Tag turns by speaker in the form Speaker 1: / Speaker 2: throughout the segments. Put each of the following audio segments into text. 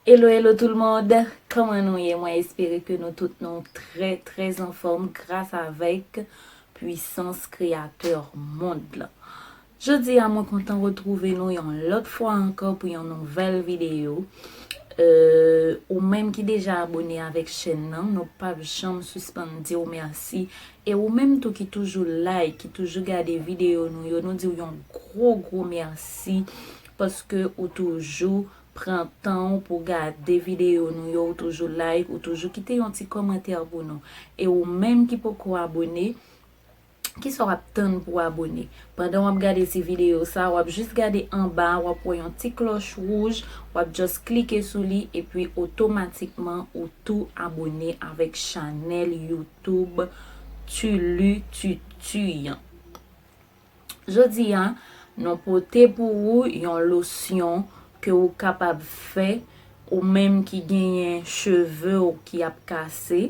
Speaker 1: Hello hello tout le monde Kòman nou ye mwen espere ke nou tout nou trè trè anfòm gras avèk pwisans kreyatè mond lan. Jodi a mwen kontan retrouve nou yon lòt fwa ankò pou yon nouvèl videyo euh ou menm ki deja abone avèk chèn nan nou pap janm sispann diw mèsi e ou menm tou ki toujou like ki toujou gade videyo nou yo nou diw yon gwo gwo mèsi paske ou toujou pran tanw pou gade videyo nou yo ou toujou like ou toujou kite yon ti kòmantè pou nou e ou menm ki poko abone Kisa wap tann pou abone? Pandan wap gade ti video sa wap jis gade anba wap wè yon ti klòch wouj wap just klike sou li epi otomatikman ou tou abone avèk chanèl YouTube Tu Lu Tutu an. Jodi a nou pote pou ou yon losyon ke ou kapab fè ou menm ki genyen chevew ki ap kase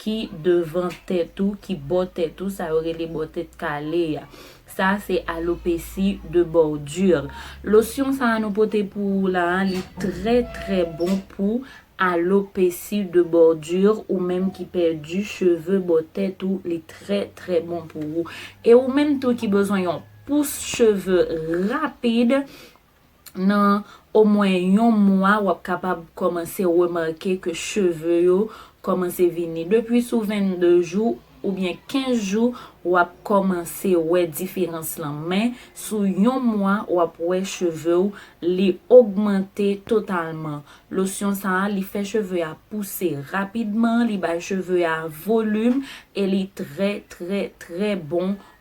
Speaker 1: ki devan tèt ou, ki bò tèt ou, sa yo rele bò tèt kale a. Sa a se alopesi de bordure. Losyon sa a nou pote pou ou la a, li trè trè bon pou alopesi de bordure, ou menm ki pèdi cheve bò tèt ou, li trè trè bon pou ou. E ou menm tou ki bezwen yon pous cheve rapid, nan omwen yon mwa wap kapab kòmanse remake ke cheve yo kòmanse vini. Depi sou 22 jou oubyen 15 jou wap kòmanse wè diferans lan men sou yon mwa wap wè cheve w li ogmante totalman. Losyon sa a li fè cheve a pouse rapidman, li bay cheve a volim e li trè trè trè bon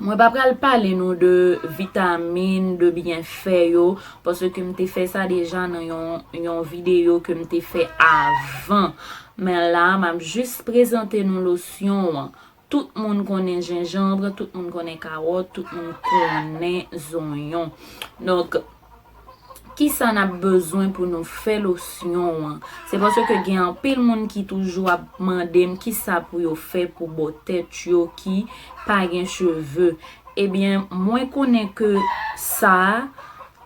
Speaker 1: Mwen pa pral pale nou de vitamin, de byenfè yo, paske m te fè sa deja nan yon videyo ke m te fè avan. Men la, m ap jis prezante nou losyon an. Tout moun konnen jenjanbre, tout moun konnen kawòt, tout moun konnen zonyon. Kisa nap bezwen pou nou fè losyon an? Se paske gen anpil moun ki toujou ap mandem kisa pou yo fè pou bò tèt yo ki pa gen cheve. Ebyen mwen konnen ke sa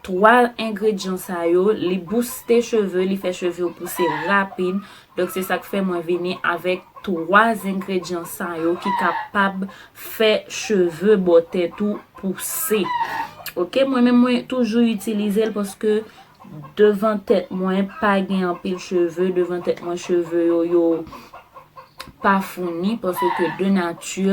Speaker 1: 3 engredyan sa yo li bouste cheve, li fè cheve yo pouse rapid. Donk se sak fè mwen vini avèk 3 zengredyan sa yo ki kapab fè cheve bò tèt ou pouse. Ok mwen menm mwen toujou itilizel paske devan tèt mwen pa gen anpil cheve, devan tèt mwen cheve yo yo pa founi paske ke de nati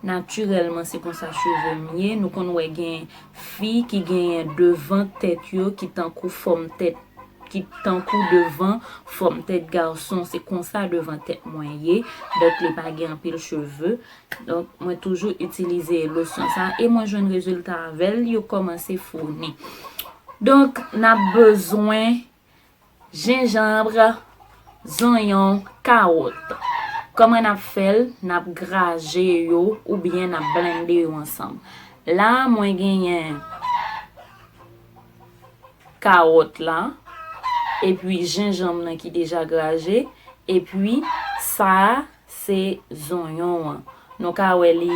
Speaker 1: natirèlman se konsa cheve m ye. Nou konn wè gen fi ki gen devan tèt yo ki tankou fòm tèt ki tankou devan fòm tèt gason se konsa devan tèt mwen ye donk li pa gen anpil cheve donk mwen toujou itilize losyon sa e mwen jwenn rezilta avèl yo kòmanse founi donk nap bezwen jenjanbre zonyon kawòt kòman nap fèl nap graje yo oubyen nap blende yo ansanm la mwen genyen kawòt la epi jenjanm nan ki deja graje epi sa se zonyon an nou ka wè li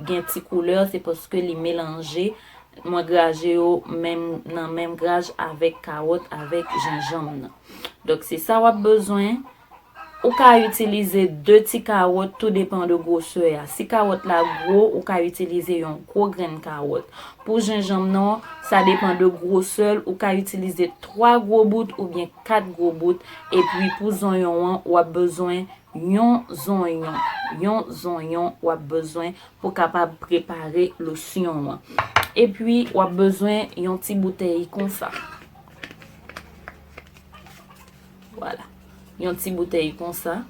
Speaker 1: gen ti koulè se paske li melanje mwen graje yo menm nan menm graj avèk kawòt avèk jenjanm nan donk se sa wap bezwen. Ou ka itilize 2 ti kawòt tou depan de gwosè a. Si kawòt la gwo, ou ka itilize yon gwo grenn kawòt. Pou jenjanm nan, sa depan de gwosè l, ou ka itilize 3 gwo bout oubyen 4 gwo bout. Epi pou zonyon an, w ap bezwen yon zonyon. Yon zonyon w ap bezwen pou kapab prepare losyon an. Epi w ap bezwen yon ti boutèy konsa. Vwala. Yon ti boutèy konsa.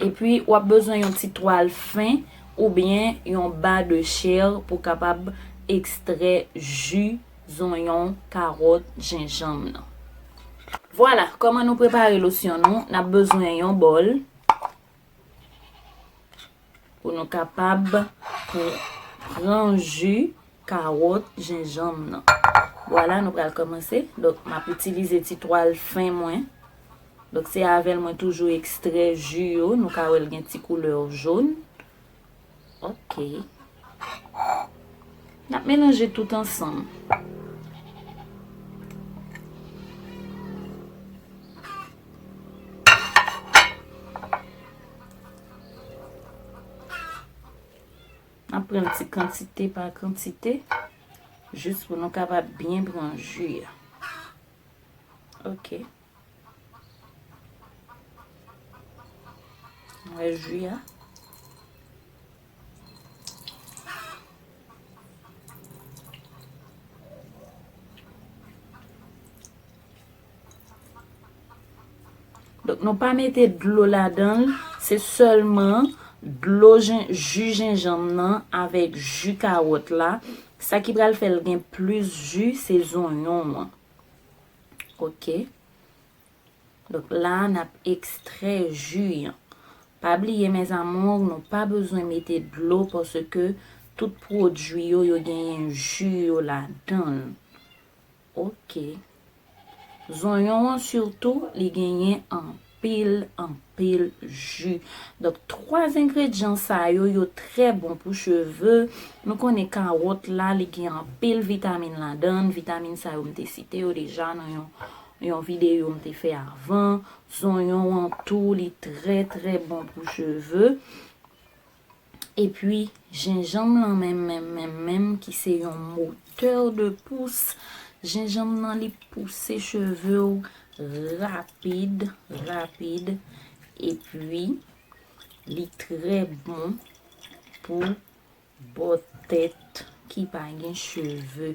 Speaker 1: E pi w ap bezwen yon ti twal fen ou byen yon ba de chèr pou w kapab ekstrè ji zonyon, karòt, jenjanm nan. Vwala. Kòman nou prepare losyon nou? N ap bezwen yon bòl. Pou nou kapab pran ju kawòt jenjanm nan. Wala nou pral komanse. Dok m ap itilize ti twal fen mwen. Dok se avèl mwen toujou ekstrè ju yo. Nou ka wèl gen ti koulè w joun. Ok. N ap melanje tout ansanm. N ap pran ti kantite pa kantite. Jis pou nou kapab byen pran ju a. Ok. Mwen jwi a. Donk nou pa mete dlo ladan, se sèlman dlo ju jenjanm nan avèk ju kawòt la. Sa ki pral fèl gen plis ju se zonyon an. Ok. Donk la a n ap ekstrè ji an. Pa bliye mes amours nou pa bezwen mete dlo paske tout pwodui yo yo genyen ji yo ladan l. Ok. Zonyon an sitou li genyen anpil. anpil anpil ju donk 3 engredyan sa yo yo trè bon pou cheve nou konnen kawòt la li gen anpil vitamin ladann vitamin sa yo m te site yo deja nan yon yon videyo m te fè avan zonyon an tou li trè trè bon pou cheve. Epi jenjanm lan menm menm menm menm ki se yon moteur de pous, jenjanm lan li pouse cheve w rapid, rapid, epi li trè bon pou bò tèt ki pa gen cheve.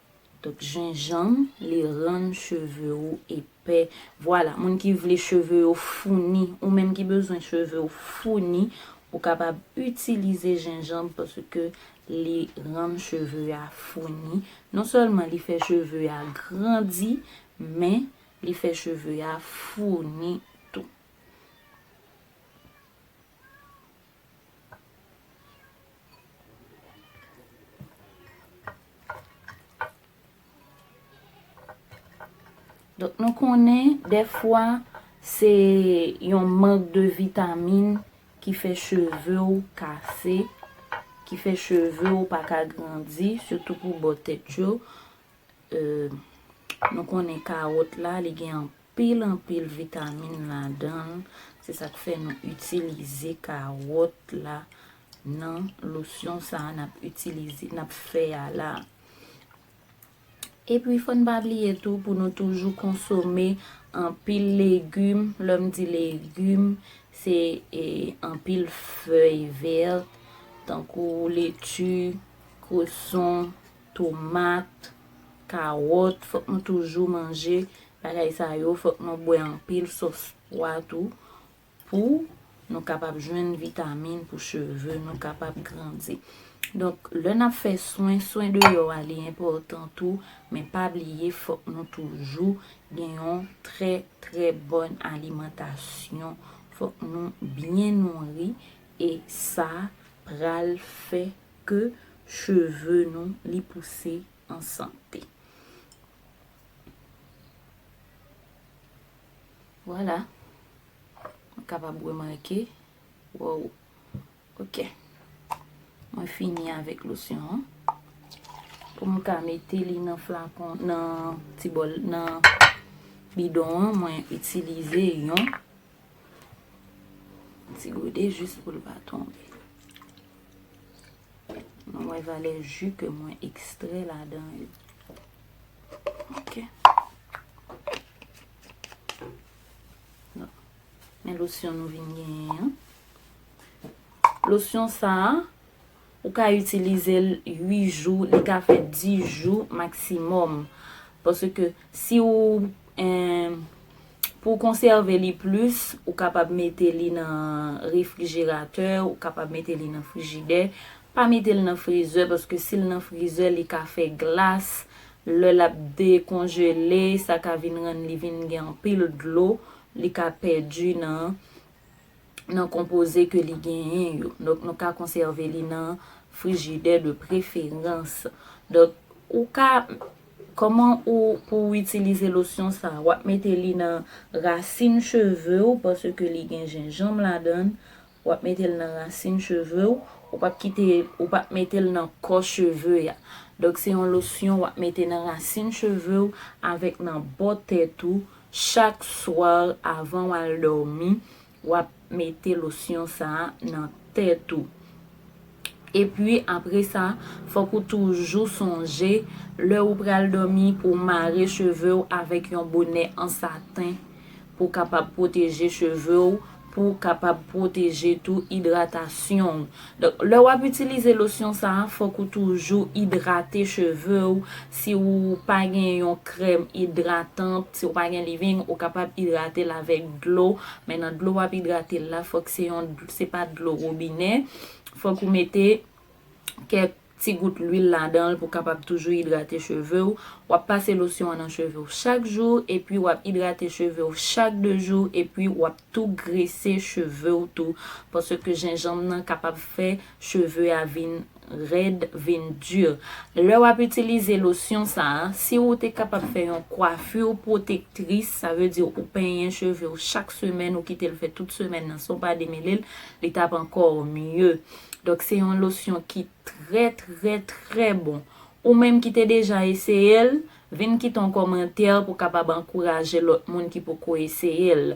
Speaker 1: Donk jenjanm li rann cheve ou epè. Vwala, moun ki vle cheve yo founi, ou menm ki bezwen cheve ou founi, ou kapab itilize jenjanm paske li rann cheve a founi. Non sèlman li fè cheve a grandi, men li fè cheve a founi tou. Donk nou konnen defwa se yon mank de vitamine ki fè cheve ou kase, ki fè cheve ou pa ka grandi, sitou pou bò tèt yo. Euh, nou konnen kawòt la li gen anpil. pil anpil vitamin ladanl se sak fè nou itilize karòt la nan losyon sa nap itilize nap fè a la epi fòn pa bliye tou pou nou toujou konsome anpil legim lèm di legim se anpil fèy vèt tankou leti kreson tomat, kawòt, fòk nou toujou manje bagay sa yo, fòk nou bwè anpil sòs pwa tou pou nou kapab jwenn vitamin pou cheve nou kapab grandi. Donk, lè n ap fè swen, swen deyò a li enpòtan tou, men pa bliye fòk nou toujou gen yon trè trè bòn alimantasyon, fòk nou byen nouri e sa pral fè ke cheve nou li pouse an sante. Vwala. Mwen kapab remake. Woww. Ok. Mwen fini avèk losyon an. Pou mwen ka mete li nan flakon, nan ti bol, nan bidon an, mwen itilize yon ti gode jis pou l pa tonbe. Mwen wè valè ju ke mwen ekstrè ladan yo. Ok. Men losyon nou vin genyen. Losyon sa, ou ka itilize l 8 jou, li ka fè 10 jou maksimòm. Paske si ou... Pou w konsève li plis, ou kapab mete li nan refrijeratè, ou kapab mete li nan frijidè. Pa mete l nan frizè paske si l nan frizè li ka fè glas, lè l ap dekonjele sa ka vin rann li vin gen anpil dlo, li ka pèdi nan nan konpoze ke li genyen yo. Donk nou ka konsève li nan frijidè de preferans. Donk ou ka, kòman ou pou ou itilize losyon sa? Ou ap mete li nan rasin cheve ou paske li gen jenjanm ladan. Ou ap mete l nan rasin cheve ou. Ou pap kite, ou pap mete l nan kò cheve a. Donk se yon losyon ou ap mete nan rasin cheve ou avèk nan bò tèt ou Chak soir avan wal dòmi wap mete losyon sa nan tèt ou. Epi apre sa fòk ou toujou sonje lè ou pral dòmi pou mare chevew avèk yon bonè an saten pou kapab pwoteje chevew pou w kapab pwoteje tou idratasyon w. Donk, lè w ap itilize losyon sa a, fòk ou toujou idrate cheve w. Si w pa gen yon krèm idratan, si w pa gen leave-in, ou kapab idrate l avèk dlo. Men nan dlo w ap idrate l la, fòk se yon, se pa dlo wobinè. Fòk ou mete kèk. Ti gout lwil ladan l pou kapab toujou idrate cheve w, w ap pase losyon an nan cheve w chak jou epi w ap idrate cheve w chak 2 jou epi w ap tou grese cheve w tou paske jenjanm nan kapab fè cheve a vin rèd, vin dur. Lè w ap itilize losyon sa a, si ou te kapab fè yon coiffure protectrice, sa vle di ou penyen cheve w chak semèn ou kite l fè tout semèn nan san w pa demele l, li t ap ankò mieux. Donk se yon losyon ki trè trè trè bon. Ou menm ki te deja eseye l, vin kite yon kòmantè pou kapab ankouraje lòt moun ki poko eseye l.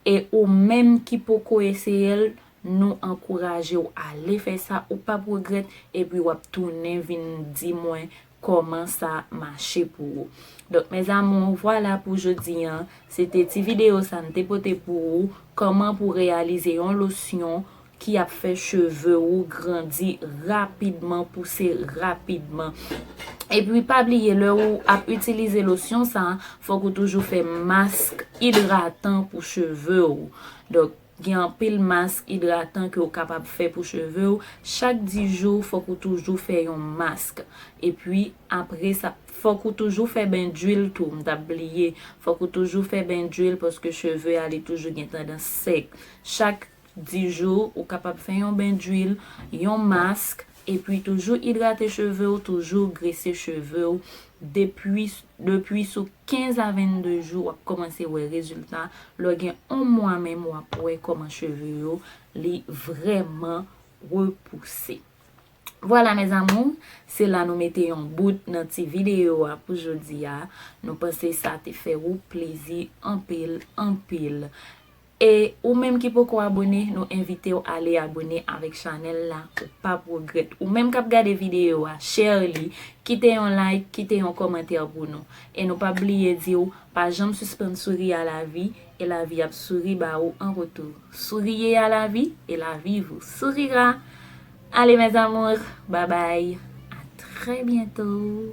Speaker 1: E ou menm ki poko eseye l, nou ankouraje w ale fè sa, ou pap regrèt epi w ap tounen vin di mwen kòman sa mache pou ou. Donk mes amours vwala pou jodi an, se te ti video sa m te pote pou ou, kòman pou reyalize yon losyon ki ap fè cheve ou grandi rapidman, pouse rapidman. Epi pa bliye lè ou ap itilize losyon sa, fòk ou toujou fè mask idratan pou cheve ou. Donk. Gen anpil mask idratan ke ou kapab fè pou cheve ou, chak 10 jou fòk ou toujou fè yon mask, epi apre sa fòk ou toujou fè ben d'huile tou, m tap bliye, fòk ou toujou fè ben d'huile paske cheve a li toujou gen tandans sèk, chak 10 jou ou kapab fè yon ben d'huile, yon mask, Epi toujou idrate cheve w toujou grese cheve w depwi depwi sou 15 a 22 jou wap komanse wè rezilta lè gen on mwa menm wap wè koman cheve yo li vrèman repouse vwala mes amours se la nou mete yon bout nan ti video a pou jodia nou panse sa te fè ou plezi anpil anpil. E ou menm ki poko abone nou envitew ale abone avèk chanèl la ou pap regrèt ou menm kap gade videyo a share li kite yon like kite yon kòmantè pou nou e nou pap bliye diw pa janm sispann souri a lavi e lavi ap souri ba ou an retou souriez à la vie et la vie vous sourira allez mes amours babay à très bientôt.